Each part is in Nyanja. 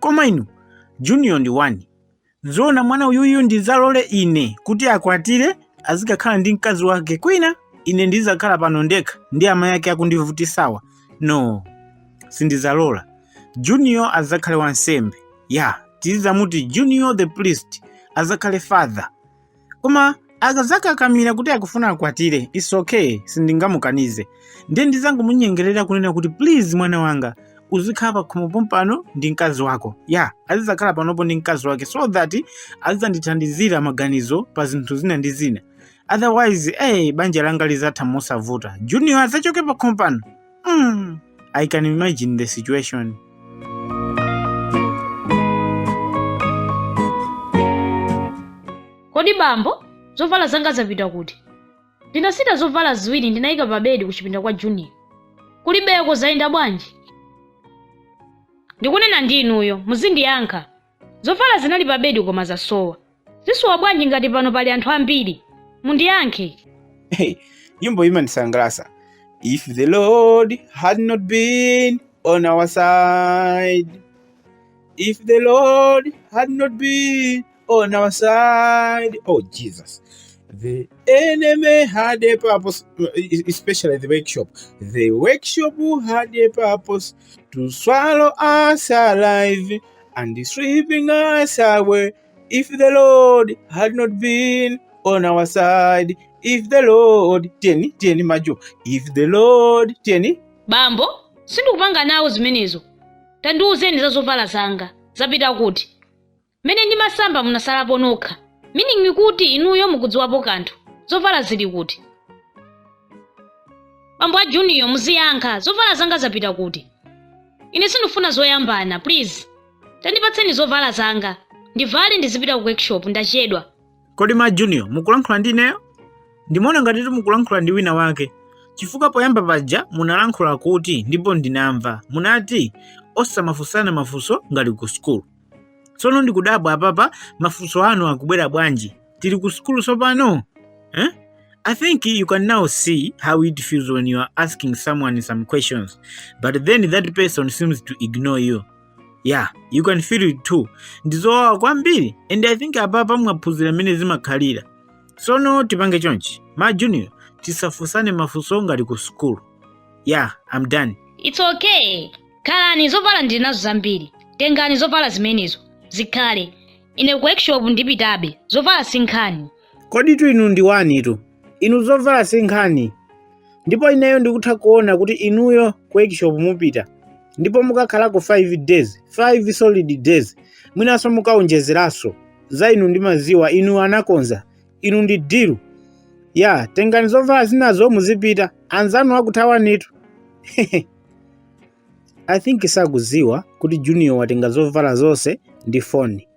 koma inu junior ndi one zoona mwana uyuyu ndizalole ine kuti akwatire azikakhala ndi mkazi wake kwina ine ndizakhala pano ndekha ndi amayi ake akundivutisawa no sindizalola junior azakhale wansembe ya tizizamuti junior the priest azakhale father koma akazakakamira kuti akufuna akwatire it's okay sindingamukanize ndiye ndizangomunyengerera kunena kuti please mwana wanga uzikhala pakhomo pompano ndi mkazi wako ya, azizakhala panopo ndi mkazi wake so that azizandithandizira maganizo pa zinthu zina ndi zina otherwise hey, banja langa lizatha mosavuta junior azachoke pakhomo pano Mm, I can imagine the situation. kodi bambo zovala zanga zapita kuti ndinasita zovala ziwiri ndinayika pa bedi kuchipinda kwa junior kulibeko zayenda bwanji ndikunena ndi inuyo muzindiyankha Zovala zinali pa bedi koma zasowa. Zisowa bwanji ngati pano pali anthu ambiri? Mundiyankhe. Hey, nyimbo iyi imandisangalatsa. If the Lord had not been on our side. If the Lord had not been on our side. Oh, Jesus. The enemy had a purpose, especially the workshop. The workshop had a purpose to swallow us alive and sweeping us away. If the Lord had not been on our side, if the Lord tiyeni tiyeni majo, if the Lord tiyeni bambo sindikupanga nawo zimenezo tandiwuzeni za zovala zanga zapita kuti mmene ndimasamba munasalapo nokha meaning kuti inuyo mukudziwapo kanthu zovala zili kuti bambo a junior muziyankha zovala zanga zapita kuti ine sindikufuna zoyambana please tandipatseni zovala zanga ndivale ndizipita ku workshop ndachedwa kodi ma junior mukulankhula ndi ineyo ndimaona ngati mukulankhula ndi wina wake chifukwa poyamba paja munalankhula kuti ndipo ndinamva munati osamafunsana mafunso ngati ku sukulu tsono ndikudabwa apapa mafunso anu akubwera bwanji tili ku sukulu tsopano eh? i think you can now see how it feels when you are asking someone some questions but then that person seems to ignore you yeah you can feel it too ndizowawa kwambiri and i think apapa mwaphunzira mmene zimakhalira tsono tipange chonchi ma junior tisafunsane mafunso ngati ku sukulu yeah i'm done It's okay. Khalani zovala ndili nazo zambiri. Tengani zovala zimenezo. Zikhale. Ine ku workshop ndipitabe. Zovala si nkhani. Koditu inu ndi wanitu. Inu zovala si nkhani. Ndipo ineyo ndikutha kuona kuti inuyo ku workshop mupita. Ndipo mukakhalako 5 days, 5 solid days. Mwinanso mukaonjezeranso. Za inu ndimaziwa, inuyo anakonza. Inu ndi dilu. Ya, tengani zovala zinazo muzipita. Anzanu akuthawanitu. I think sakuziwa kuti Junior watenga zovala zonse ndi foni.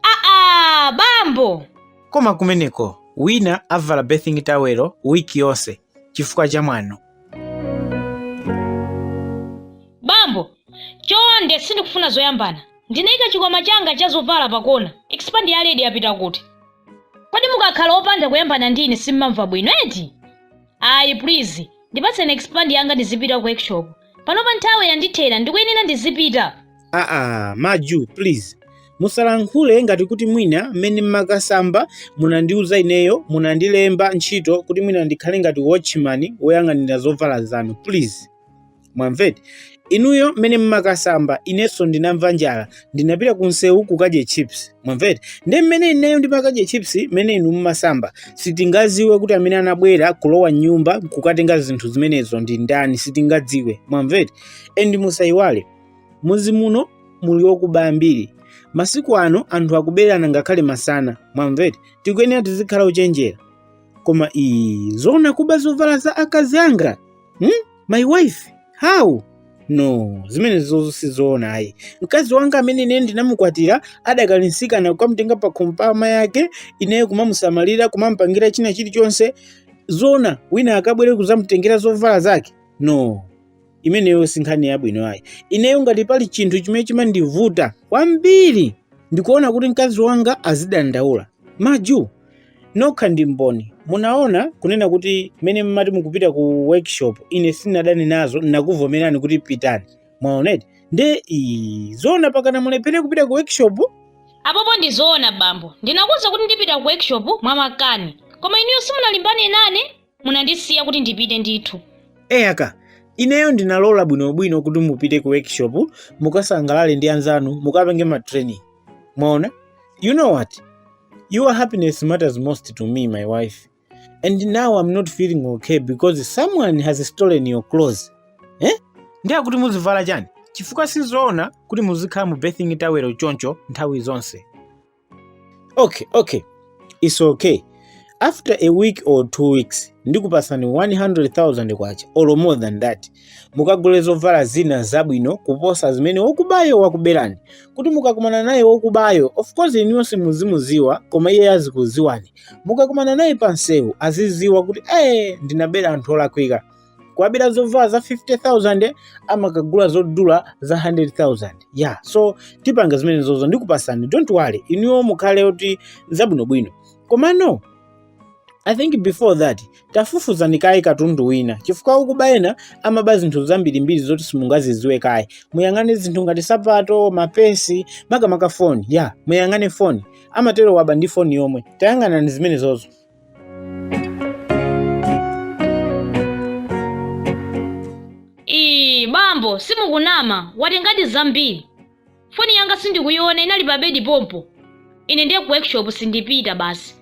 aa bambo Koma kumeneko wina avala bathing towel wiki yonse chifukwa cha mwano. bambo chonde sindikufuna zoyambana ndinaika chikwama changa cha zovala pakona expand ya ledi yapita kuti kodi mukakhala opanda kuyambana ndi ine simmamva bwino eti ayi please ndipatseni expand yanga ndizipita ku workshop panopa nthawi yandithera ndikuyenera ndizipita aa maju please musalankhule ngati kuti mwina mmene mmakasamba munandiuza ineyo munandilemba ntchito kuti mwina ndikhale ngati watchman woyang'anira zovala zanu please mwamveti inuyo mmene mmakasamba inenso ndinamva njala ndinapita ku msewu kukadya chips mwamveti ndi mmene ineyo ndimakadya chips mmene inu mmasamba sitingaziwe kuti amene anabwera kulowa m'nyumba kukatenga zinthu zimenezo ndi ndani sitingadziwe mwamveti endi musayiwale muzi muno muli okuba ambiri masiku ano anthu akuberana ngakhale masana mwamveti tikuyenera tizikhala ochenjera koma zoona kuba zovala za akazi anga hmm? my wife how no zimenezo sizoona ayi mkazi wanga amene ine ndinamukwatira adakali msikana kukamutenga pa khomo pa amayi ake ineyo kumamusamalira kumamupangira china chilichonse zona wina akabwere kuzamutengera zovala zake no imeneyo si nkhani yabwino ayi ineyo ngati pali chinthu chimene chimandivuta kwambiri ndikuona kuti mkazi wanga azidandaula maju Nokha ndi mboni. Munaona kunena kuti mmene mmati mukupita ku workshop ine sinadane nazo ndakuvomerani kuti pitani. Mwaoneti? Nde ii zoona pakana mulephere kupita ku workshop? Apopo ndi zoona bambo. Ndinakuuza kuti ndipita ku workshop mwamakani. Koma inuyo simunalimbane nane? munandisiya kuti ndipite ndithu eyaka ineyo ndinalola bwinobwino kuti mupite ku workshop mukasangalale ndi anzanu mukapenge ma training mwaona you know what your happiness matters most to me my wife and now i'm not feeling okay because someone has stolen your clothes eh? ndiye kuti muzivala chani chifukwa sizoona kuti muzikhala mu bathing towel choncho nthawi zonse okay okay it's okay after a week or two weeks ndikupasani 100000 kwacha or more than that mukagule zovala zina zabwino kuposa zimene wokubayo wakuberani kuti mukakumana naye wokubayo of course inuyo simuzimuziwa koma iye azikuziwani mukakumana naye pansewu aziziwa kuti ee ndinabera anthu olakwika kuwabera zovala za 50000 amakagula zodula za 100000 yeah so tipanga zimene zozo ndikupasani don't worry inuyo mukhale kuti zabwinobwino komano i think before that tafufuzani kaye katundu wina chifukwa okuba ena amaba zinthu zambirimbiri zoti simungaziziwe kaye muyang'ane zinthu ngati sapato ma purse makamaka foni ya muyang'ane foni amatero waba ndi foni yomwe tayang'anani zimene zozo Iii, bambo simukunama, watengadi zambiri. Foni yanga sindikuiona inali pa bedi pompo. Ine ndiye ku workshop sindipita basi.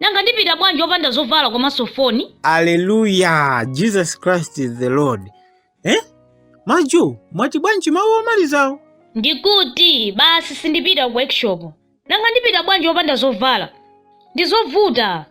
Nanga ndipita bwanji opanda zovala komanso foni? Aleluya! Jesus Christ is the Lord. eh? majo mwati bwanji mawu omalizawo ndikuti basi sindipita ku workshop nanga ndipita bwanji opanda zovala ndizovuta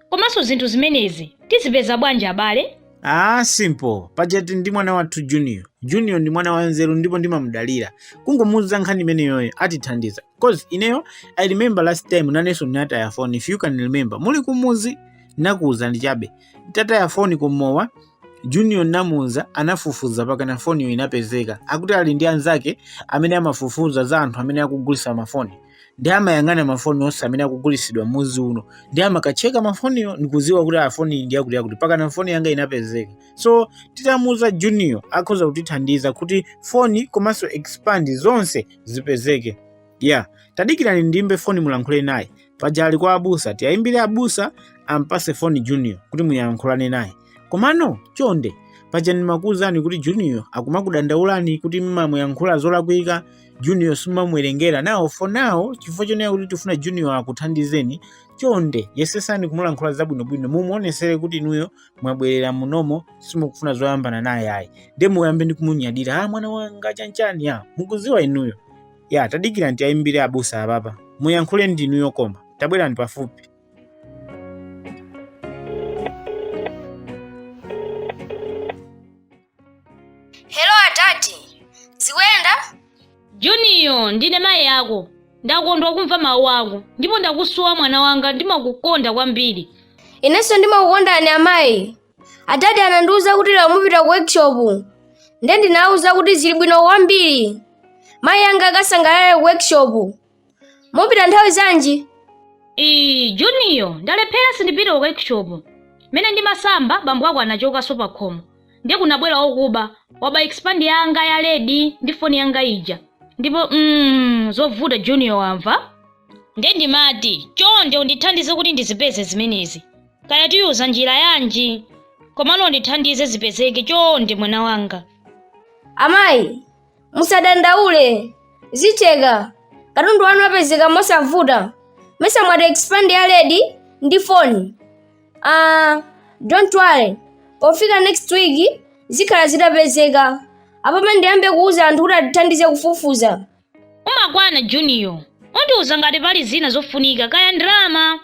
komanso zinthu zimenezi tizipeza bwanji ababa Ah, simple. Pajati ndi mwana wathu Junior. Junior ndi mwana wanzeru ndipo ndimamudalira. Kungomuuza nkhani imeneyoyo atithandiza. Cause ineyo I remember last time naneso ndinataya phone if you can remember. Muli kumuzi nakuuza ndi chabe. Nditataya foni ku mowa, Junior namuuza anafufuza pakana foniyo inapezeka. Akuti ali ndi anzake amene amafufuza za anthu amene akugulisa mafoni ndi amayang'ana mafoni onse amene akugulisidwa mmuzi uno ndi amakatcheka mafoniyo ndikuziwa kuti a foni ndi yakuti yakuti pakana foni yanga inapezeka so titamuuza junior akhoza kutithandiza kuti foni komanso expand zonse zipezeke ya tadikirani ndiimbe foni mulankhule naye paja ali kwa abusa tiyayimbire abusa ampase foni junior kuti muyankhulane naye komano chonde paja ndimakuwuzani kuti junior akumakudandaulani kuti mumamuyankhula zolakwika junior simumamuwerengera now for now chifukwa chonena kuti tifuna junior akuthandizeni chonde yesesani kumulankhula zabwinobwino mumuonesere kuti inuyo mwabwerera munomo simukufuna zoyambana naye ayi nde muyambe ndi kumunyadira a ah, mwana wanga chanchani ya ah, mukuziwa inuyo ya tadikirani tiayimbire abusa ababa muyankhule ndi inuyo koma tabwerani pafupi Hello adadi. Zikuyenda? Junior ndine mayi ako ndakondwa kumva mawu ako ndipo ndakusowa mwana wanga ndimakukonda kwambiri Inenso ndimakukondani amayi. adadi anandiwuza kuti lero mupita ku workshop nde ndinawauza kuti zili bwino kwambiri mayi anga akasangalale ku workshop mupita nthawi zanji ii juniyo ndalephera sindipita ku workshop mmene ndimasamba bambo ako anachokanso pa khomo ndiye kunabwera okuba waba expand yanga ya ledi ndi foni yanga ija ndipo mm, zovuta juniyo wamva nde ndimati chonde undithandize kuti ndizipeze zimenezi kaya tiyuza njira yanji komano undithandize zipezeke chonde mwana wanga amayi musadandaule zicheka katundu wanu apezeka mosavuta mesa mwati expand ya ledi ndi foni uh, don't worry pofika next week zikhala zitapezeka apapa ndiyambe kuuza anthu kuti atithandize kufufuza Umakwana Juniyo. Undiuza ngati pali zina zofunika kaya ndalama.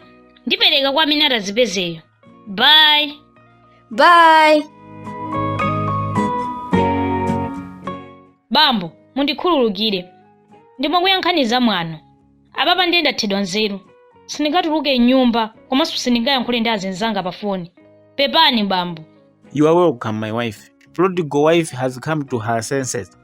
Ndipereka kwa amene atazipezeyo. Bye. Bye. Bambo, mundikhululukire. Ndimakuyankhani za mwano. Apapa ndiye ndathedwa nzeru. Sindingatuluke m'nyumba komanso sindingayankhule ndi azinzanga pa foni. Pepani bambo. You are welcome, my wife. Prodigal wife has come to her senses.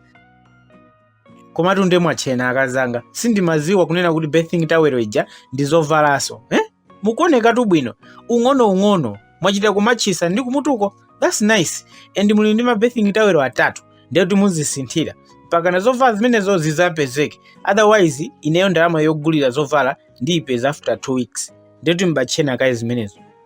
komatu nde mwatchena akazanga sindimaziwa kunena kuti bathing towel ija ndi zovalanso eh? mukuonekatu bwino ung'onoung'ono mwachita kumatchisa ndi kumutuko that's nice and muli ndi ma bathing towel atatu ndiye kuti muzisinthira mpaka na zovala zimenezo zizapezeke otherwise ineyo ndalama yogulira zovala ndiyipeza after two weeks ndiye kuti mbatchena kaye zimenezo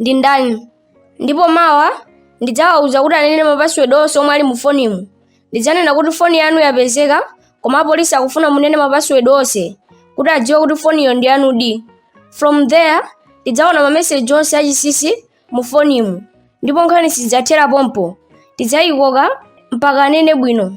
ndi ndani ndipo mawa ndidzawauza kuti anene mapasiwedi onse omwe ali mu fonimu ndidzanena kuti foni yanu yapezeka koma apolisi akufuna munene mapasiwedi onse kuti adziwe kuti foniyo ndi yanudi from there tidzaona mameseji onse achinsinsi mu fonimu ndipo nkhani sidzathera pompo tidzayikoka mpaka anene bwino